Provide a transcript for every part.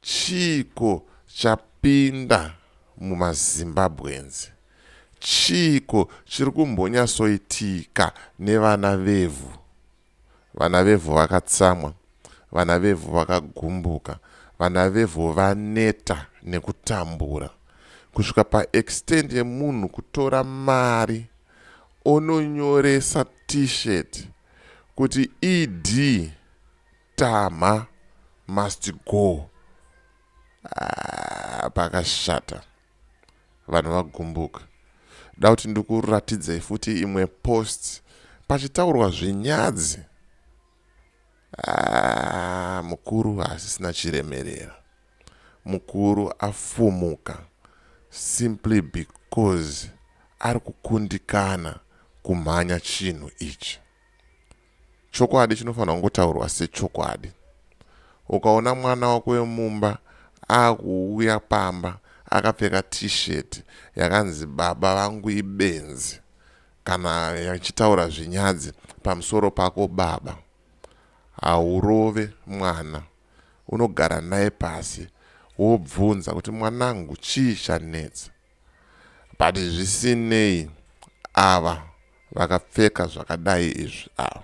chiiko chapinda mumazimbabweans chiiko chiri kumbonyasoitika nevana vevhu vana vevhu vakatsamwa vana vevhu vakagumbuka vana vevhu vaneta nekutambura kusvika paextend yemunhu kutora mari ononyoresa t-shirt kuti ED Tamha must go. Ah, pakashata. Vanhu vagumbuka. Da kuti ndikuratidzei futi imwe post pachitaurwa zvenyadzi. Ah, mukuru hasisina chiremerera. Mukuru afumuka simply because ari kukundikana kumhanya chinhu ichi. Chokwadi chinofanirwa kungotaurwa sechokwadi. Ukaona mwana wako wemumba akuuya pamba akapfeka t-shirt yakanzi baba vangu ibenzi kana yachitaura zvinyadzi pamusoro pako baba haurove mwana unogara naye pasi wobvunza kuti mwanangu chii chanetsa but zvisinei ava vakapfeka zvakadai izvi ava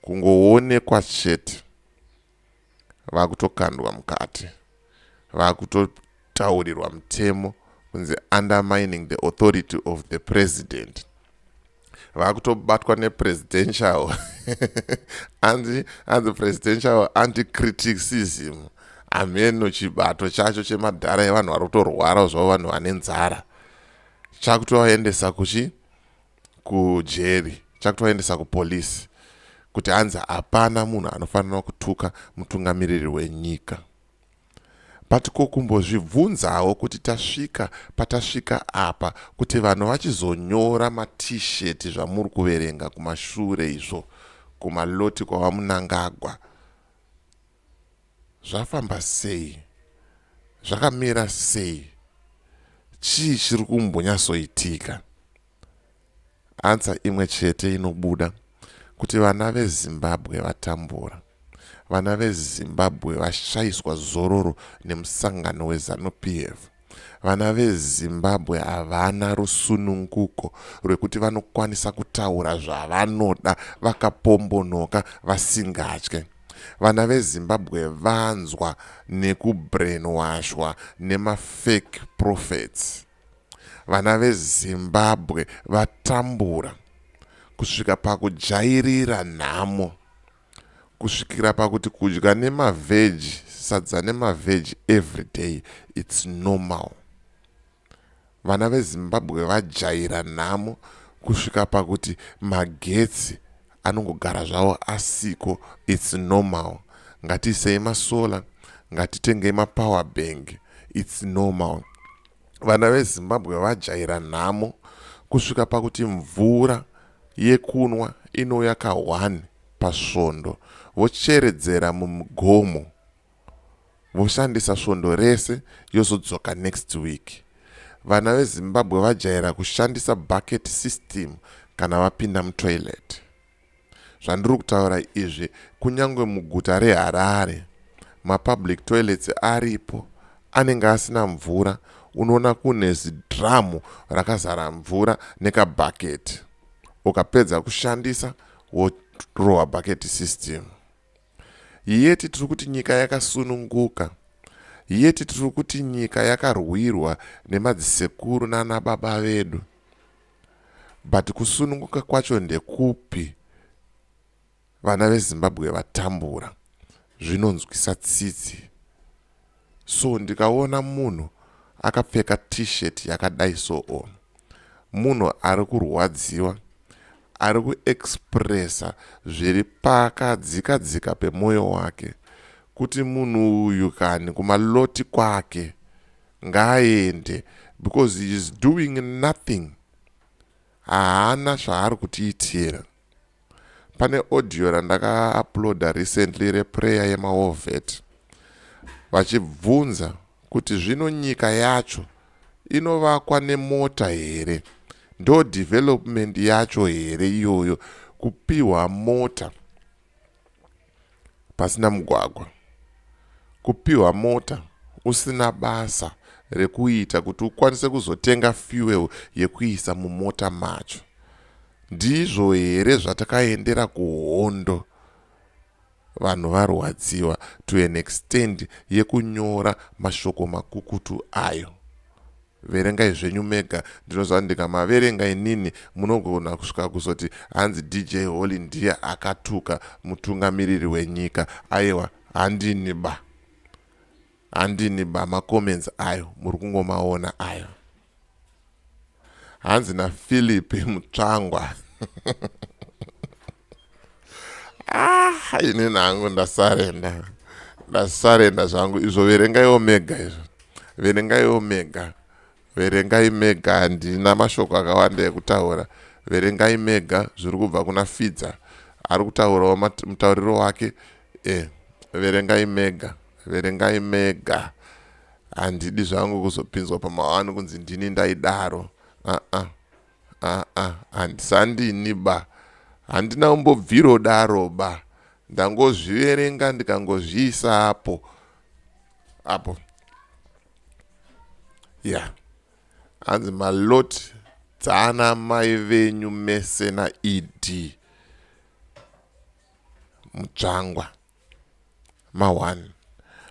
kungoonekwa chete vakutokandwa mukati vakuto taurirwa mutemo kunzi undermining the authority of the president vakutobatwa nepresidential anzi anzi presidential anticriticism hameno chibato chacho chemadhara evanhu vari kutorwarawo zvavo vanhu vane nzara chakutovaendesa kuchi kujeri chakutovaendesa kupolisi kuti anzi hapana munhu anofanira kutuka mutungamiriri wenyika But ko kumbozvibvunzawo kuti tasvika patasvika apa kuti vanhu vachizonyora ma t-shirt zvamuri kuverenga kumashure izvo kumaloti kwaVaMunangagwa zvafamba sei? Zvakamira sei? Chii chiri kumbonyatsoitika? Answer imwe chete inobuda kuti vana veZimbabwe vatambura. Vana veZimbabwe vashaiswa zororo nemusangano weZanu PF. Vana veZimbabwe havana rusununguko rwekuti vanokwanisa kutaura zvavanoda vakapombonoka vasingatye. Vana veZimbabwe vanzwa nekubrainwashwa nemafake prophets. Vana veZimbabwe vatambura kusvika pakujairira nhamo kusvikira pakuti kudya nemaveji sadza nemaveji everyday its normal vana vezimbabwe vajaira nhamo kusvika pakuti magetsi anongogara zvavo asiko its normal ngatiisei masolar ngatitengei mapower bank its normal vana vezimbabwe vajaira nhamo kusvika pakuti mvura yekunwa inouya ka one pasvondo vocheredzera mumugomo voshandisa svondo rese yozodzoka next week vana vezimbabwe vajaira kushandisa bucket system kana vapinda mutoilet Zvandiri kutaura izvi kunyangwe muguta reHarare mapublic toilets aripo anenge asina mvura unoona kune zidhiramu rakazara mvura nekabhaketi ukapedza kushandisa worohwa bhaketi system yeti tiri kuti nyika yakasununguka yeti tiri kuti nyika yakarwirwa nemadzisekuru nanababa vedu But kusununguka kwacho ndekupi vana vezimbabwe vatambura zvinonzwisa tsitsi so ndikaona munhu akapfeka t-shirt yakadai so on munhu ari kurwadziwa ari kuexpressa zviri pakadzika dzika pemwoyo wake kuti munhu uyu kani kumaloti kwake Ngaaende because he is doing nothing haana zvaari kutiitira. Pane audio randaka uploader recently reprayer yemaovet vachibvunza kuti zvino nyika yacho inovakwa nemota here ndo development yacho here iyoyo kupiwa mota pasina mugwagwa, kupiwa mota usina basa rekuita kuti ukwanise kuzotenga fuel yekuisa mumota macho. Ndizvo here zvatakaendera kuhondo? Vanhu varwadziwa to an extent yekunyora mashoko makukutu ayo. Verengai zvenyu mega ndinoziva kuti ndikamaverenga inini munogona kusvika kuzoti hanzi DJ Holy ndiye akatuka mutungamiriri wenyika. Ayewa handini ba. Handini ba macomments ayo muri kungomaona ayo. Hanzi naPhilip Mutsvangwa. ah ini nangu ndasarenda ndasarenda zvangu izvo verengaiwo mega izvo verengaiwo mega verengai mega handina mashoko akawanda ekutaura verengai mega zviri kubva kuna fidza ari kutaurawo mutauriro wake e verengai mega verengai mega handidi zvangu kuzopinzwa pamawani kunzi ndini ndaidaro aa uh -uh. Aa handisandini ba handina kumbobviro daro ba ndangozviverenga ndikangozviisa apo apo ya yeah. hanzi malot dzaana mai venyu mese naed mutsvangwa ma one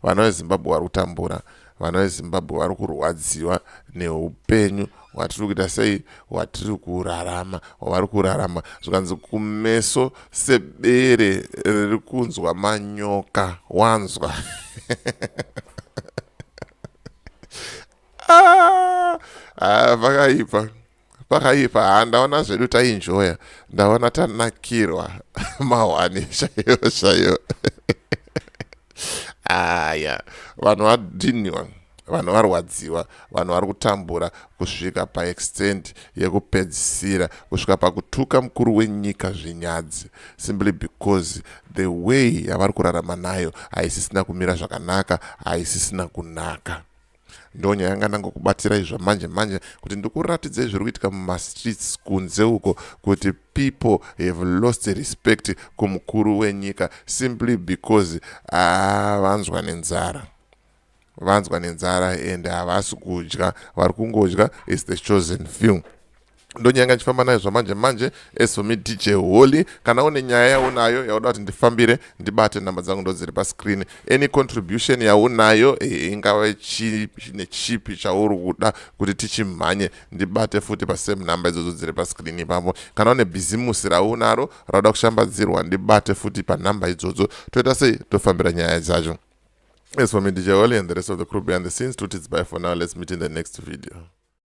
vana vezimbabwe vari kutambura vana vezimbabwe vari kurwadziwa neupenyu hwatiri kuita sei hwatiri kurarama hwavari kurarama zvikanzi kumeso sebere riri kunzwa manyoka wanzwa ah, ah, vakaipa ah, pakaipa ha ndaona zvedu tainjoya ndaona tanakirwa mahwani chaiyo chaiyo aya vanhu vadhiniwa vanhu varwadziwa vanhu vari kutambura kusvika paextend yekupedzisira kusvika pakutuka mukuru wenyika zvinyadzi simply because the way yavari kurarama nayo haisisina kumira zvakanaka haisisina kunaka ndonya yanga ndangokubatsirai zvamanje manje kuti ndikuratidzei zviri kuitika mumastreets kunze uko kuti people have lost respect kumukuru wenyika simply because ah, vanzwa nenzara vanzwa nenzara and havasi kudya vari kungodya is the chosen few ndonyanga ndichifamba nayo zvamanje manje as for me dj holy kana une nyaya yaunayo yauda kuti ndifambire ndibate nhamba dzangu ndodziri pascreen any contribution yaunayo eh, ingave nechipi chauri kuda kuti tichimhanye ndibate futi pasame nhamba idzodzo dziri pascreen ipapo kana une bhizimusi raunaro rauda kushambadzirwa ndibate futi panhamba idzodzo toita sei tofambira nyaya dzacho as for me dj holy and the rest of the crew behind the scenes tutidzibye for now let's meet in the next video